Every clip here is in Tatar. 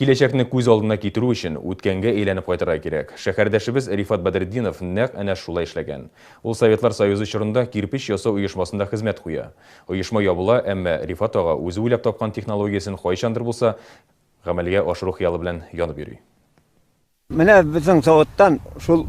Киләчәкне күз алдына китерү өчен, үткәнгә әйләнеп кайтырга кирәк. Шәһәрдәшебез Рифат Бәдретдинов нәкъ әнә шулай эшләгән. Ул Советлар Союзы чорында кирпеч ясау оешмасында хезмәт куя. Оешма ябыла, әмма Рифат ага үзе уйлап тапкан технологиясен кайчандыр булса гамәлгә ашыру хыялы белән янып йөри. Менә безнең заводтан шул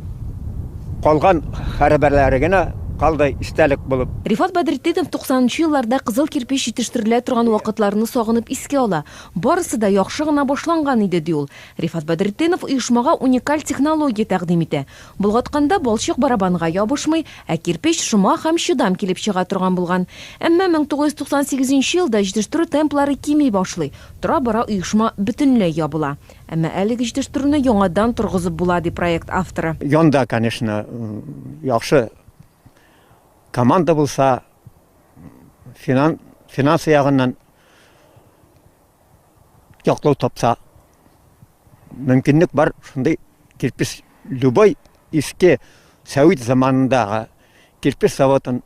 калган хәрабәләре генә калды истәлек булып. Рифат Бәдретдинов туксанынчы елларда кызыл кирпеч җитештерелә торган вакытларны сагынып искә ала. Барысы да яхшы гына башланган иде, ди ул. Рифат Бәдретдинов оешмага уникаль технология тәкъдим итә. Болгатканда балчык барабанга ябышмый, ә кирпеч шома һәм чыдам килеп чыга торган булган. Әмма 1998 нче елда җитештерү темплары кими башлый, тора-бара оешма бөтенләй ябыла. Әмма әлеге җитештерүне яңадан торгызып була, ди проект авторы. Янда, конечно, яхшы команда булса, финансы ягыннан яклау тапса, мөмкинлек бар, шундый кирпич любой иске сәвит заманындагы кирпич заводын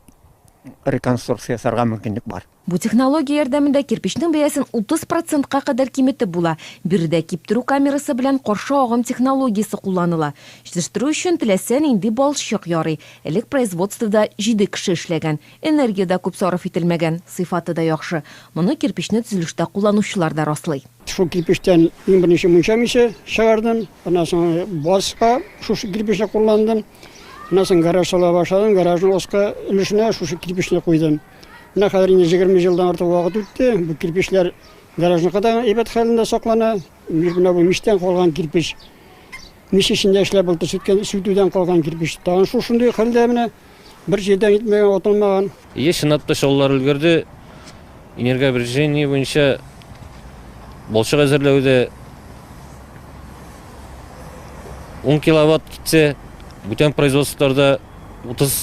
реконструкция ясарга мөмкинлек бар. Бу технология ярдәмендә кирпечнең бәясен 30 процентка кадәр киметеп була. Биредә киптерү камерасы белән каршы агым технологиясе кулланыла. Җитештерү өчен теләсә нинди балчык ярый. Элек производствода җиде кеше эшләгән. Энергия дә күп сарыф ителмәгән, сыйфаты да яхшы. Моны кирпечне төзелештә кулланучылар да раслый. Шул кирпечтән мин беренче мунча миче чыгардым. Аннан соң базга шушы кирпечне кулландым. Аннан соң гараж сала башладым. Гаражның аскы өлешенә шушы кирпечне куйдым. Менә хәзер инде җигерме елдан артык вакыт үтте. Бу кирпечләр гаражныкы да әйбәт хәлендә саклана. Мир менә бу мичтән калган кирпеч. Мич эчендә эшләп былтыр сүткән, сүтүдән калган кирпеч. Тагын шул шундый хәлдә менә бер җирдән итмәгән, атылмаган. Ие чынлапты чалулар өлгерде. Энергообрежение буенча балчык әзерләүдә 10 киловатт китсә, бүтән производстволарда 30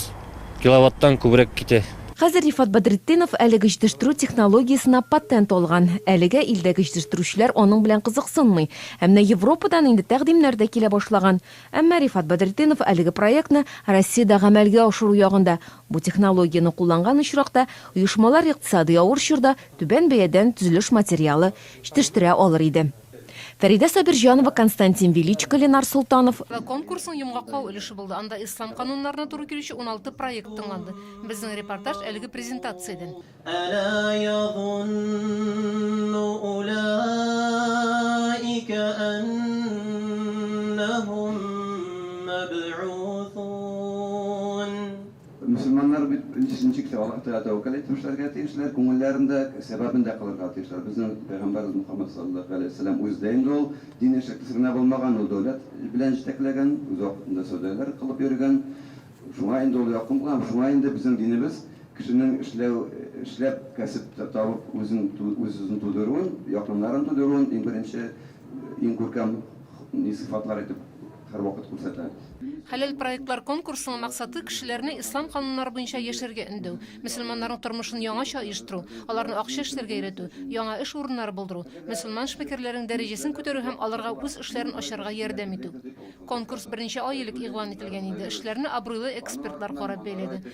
киловаттан күбрәк китә. Хәзер Рифат Бәдретдинов әлеге җитештерү технологиясенә патент алган. Әлегә илдәге җитештерүчеләр аның белән кызыксынмый. Ә менә Европадан инде тәкъдимнәр дә килә башлаган. Әмма Рифат Бәдретдинов әлеге проектны Россиядә гамәлгә ашыру ягында. Бу технологияне кулланган очракта, оешмалар икътисадый авыр чорда түбән бәядән төзелеш материалы җитештерә алыр иде. Фәридә Сабирҗанова, Константин Величко, Ленар Солтанов. Ва конкурсның йомгаклау өлеше булды. Анда ислам кануннарына туры килүче уналты проект тыңланды. Безнең репортаж әлеге презентациядән. Әлә язунну улаика әннәһум мәбгуусун. Мөселманнар бит ничек тә Аллаһы Тәгаләгә тәвәккәл итеп эшләргә тиешләр, күңелләрен дә, сәбәбен дә кылырга тиешләр. Безнең пәйгамбәребез Мөхәммәд саллаллаһу галәйһи ва сәлләм үзе дә инде ул дин эшлеклесе генә булмаган, ул дәүләт белән җитәкләгән, үзе вакытында сәүдәләр кылып йөрегән. Шуңа инде ул якын булган һәм шуңа инде безнең динебез кешенең эшләү, эшләп, кәсеп табып, үзен, үз-үзен тудыруын, якыннарын тудыруын иң беренче, иң күркәм сыйфатлар итеп һәрвакыт күрсәтәбез. Хәләл проектлар конкурсының максаты, кешеләрне ислам кануннары буенча яшәргә өндәү, мөселманнарның тормышын яңача оештыру, аларны акча эшләргә өйрәтү, яңа эш урыннары булдыру, мөселман эшмәкәрләренең дәрәҗәсен күтәрү һәм аларга үз эшләрен ачарга ярдәм итү. Конкурс берничә ай элек игълан ителгән иде, эшләрне абруйлы экспертлар карап бәяләде.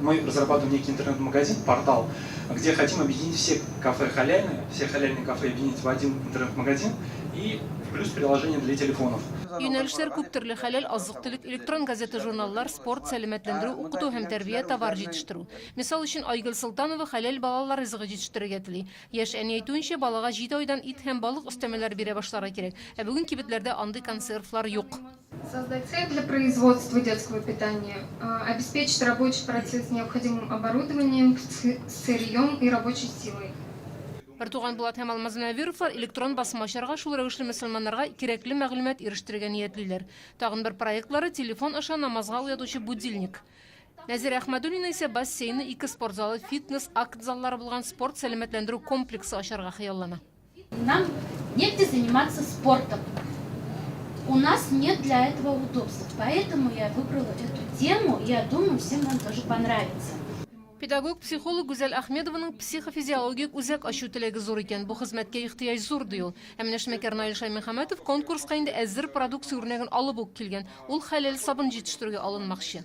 Мы разрабатываем некий интернет-магазин, портал, где хотим объединить все кафе халяльные, все халяльные кафе объединить в один интернет-магазин и плюс приложение для телефонов. Юнәлешләр күп төрле хәләл азык-төлек, электрон газета-журналлар, спорт, сәламәтләндерү, укыту һәм тәрбия, товар җитештерү. Мисал өчен, Айгөл Солтанова хәләл балалар ризыгы җитештерергә тели. Яшь әни әйтүенчә, балага җиде айдан ит һәм балык өстәмәләре бирә башларга кирәк. Ә бүген кибетләрдә андый консервлар юк. Создать цех для производства детского питания, обеспечить рабочий процесс необходимым оборудованием, сырьем и рабочей силой. Бертуган Булат һәм Алмаз Нәвировлар электрон басма ачарга шул рәвешле мөселманнарга кирәкле мәгълүмат ирештерергә ниятлиләр. Тагын бер проектлары, телефон аша намазга уятучы будильник. Нәзирә Әхмәдуллина исә бассейны, ике спортзалы, фитнес, акт заллары булган спорт-сәламәтләндерү комплексы ачарга хыяллана. Нам негде заниматься спортом. У нас нет для этого удобств. Поэтому я выбрала эту тему, и я думаю, всем вам тоже понравится. Педагог-психолог Гүзәл Ахмедованың психофизиологик үзәк ачу теләге зур икән. Бу хезмәткә ихтыяҗ зур, ди ул. Ә менә эшмәкәр Наил Шаймөхәммәтов конкурска инде әзер продукция үрнәген алып ук килгән. Ул хәләл сабын җитештерүгә алынмакчы.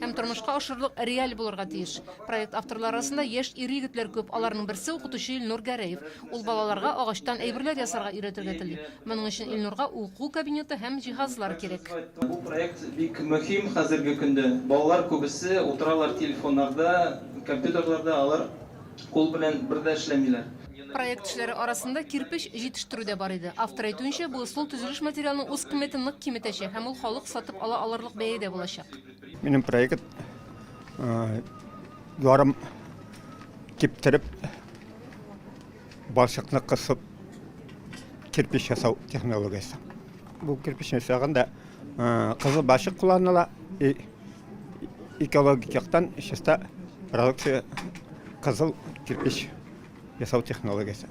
Һәм тормышка ашырырлык реаль булырга тиеш. Проект авторлары арасында яшь ир-егетләр күп. Аларның берсе укытучы Илнур Гәрәев. Ул балаларга агачтан әйберләр ясарга өйрәтергә тели. Моның өчен Илнурга уку кабинеты һәм җиһазлар кирәк. Бу проект бик мөһим хәзерге көндә. Балалар күбесе утыралар телефоннарда, компьютерларда, алар кул белән бер дә эшләмиләр. Проект эшләре арасында кирпеч җитештерү дә бар иде. Автор әйтүенчә, бу ысул төзелеш материалының үз кыйммәтен нык киметәчәк һәм ул халык сатып ала алырлык бәядә булачак. Минем проект ярым киптереп, балчыкны кысып кирпеч ясау технологиясе. Бу кирпеч ясаганда кызыл балчык кулланыла, экологик яктан чиста продукция кызыл кирпеч. ясау технологиясе.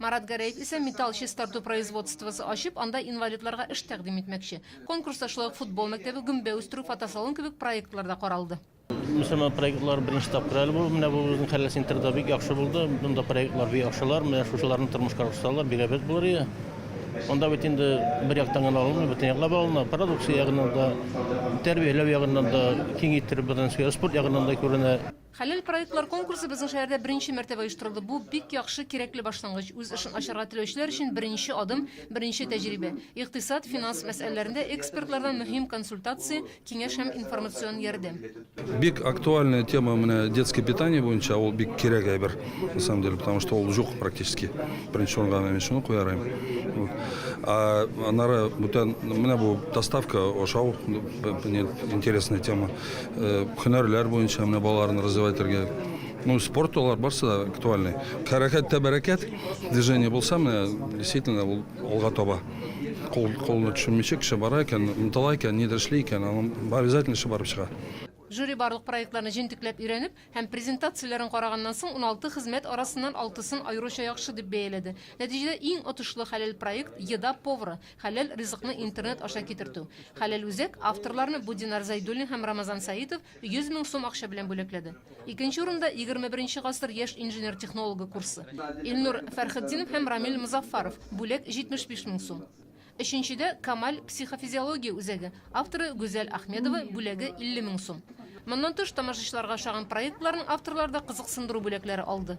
Марат Гәрәев исә металл чистарту производствосы ачып, анда инвалидларга эш тәкъдим итмәкче. Конкурста шулай ук футбол мәктәбе, гөмбә үстерү фотосалон кебек проектлар да каралды. Өстәмә проектлар беренче тапкыр әле бу. Менә бу безнең Хәләл Синтерда бик яхшы булды. Монда проектлар бик яхшылар. Менә шушыларны тормышка кушсалар, бик әйбәт булыр иде. Монда бит инде бер яктан гына алынмый, бөтен яклап алына. Продукция ягыннан да, тәрбияләү ягыннан да киң иттереп, бөтен нәрсә, спорт ягыннан да күренә. Хәләл проектлар конкурсы безнең шәһәрдә беренче мәртәбә оештырылды. Бу, бик яхшы, кирәкле башлангыч. Үз эшен ачарга теләүчеләр өчен беренче адым, беренче тәҗрибә. Икътисад, финанс мәсьәләләрендә экспертлардан мөһим консультация, киңәш һәм информацион ярдәм. Бик актуальная тема менә детское питание буенча, ул бик кирәк әйбер, на самом деле, потому что ул юк практически. Беренче урынга менә мин шуны куяр идем. Вот. А аннары бүтән менә бу доставка, ашау, б- б- не, интересная тема. Э, һөнәрләр буенча менә балаларны развивать итәргә ну спорт алар барысы да актуальный хәрәкәт тә бәрәкәт движение булса менә действительно ул алга таба кол колына төшенмичә кеше бара икән омтыла икән нидер эшли икән аның обязательно эше барып чыга Жюри барлык проектларны җентекләп өйрәнеп һәм презентацияләрен караганнан соң 16 хезмәт арасыннан алтысын аеруча яхшы дип бәяләде. Нәтиҗәдә иң отышлы хәләл проект Еда повара, Хәләл ризыкны интернет аша китертү. Хәләл үзәк авторларны Будинар Зәйдуллин һәм Рамазан Сәитов 100 мең сум акча белән бүләкләде. Икенче урында, ХХI нче гасыр яшь инженер-технологы курсы. Илнур Фәрхетдинов һәм Рамил Мозаффаров, бүләк 75 мең сум. Өченчедә, Камаль психофизиология үзәге, авторы Гүзәл Ахмедова, бүләге 50 мең сум. Моннан тыш, тамашачыларга ошаган проектларның авторлары да кызыксындыру бүләкләре алды.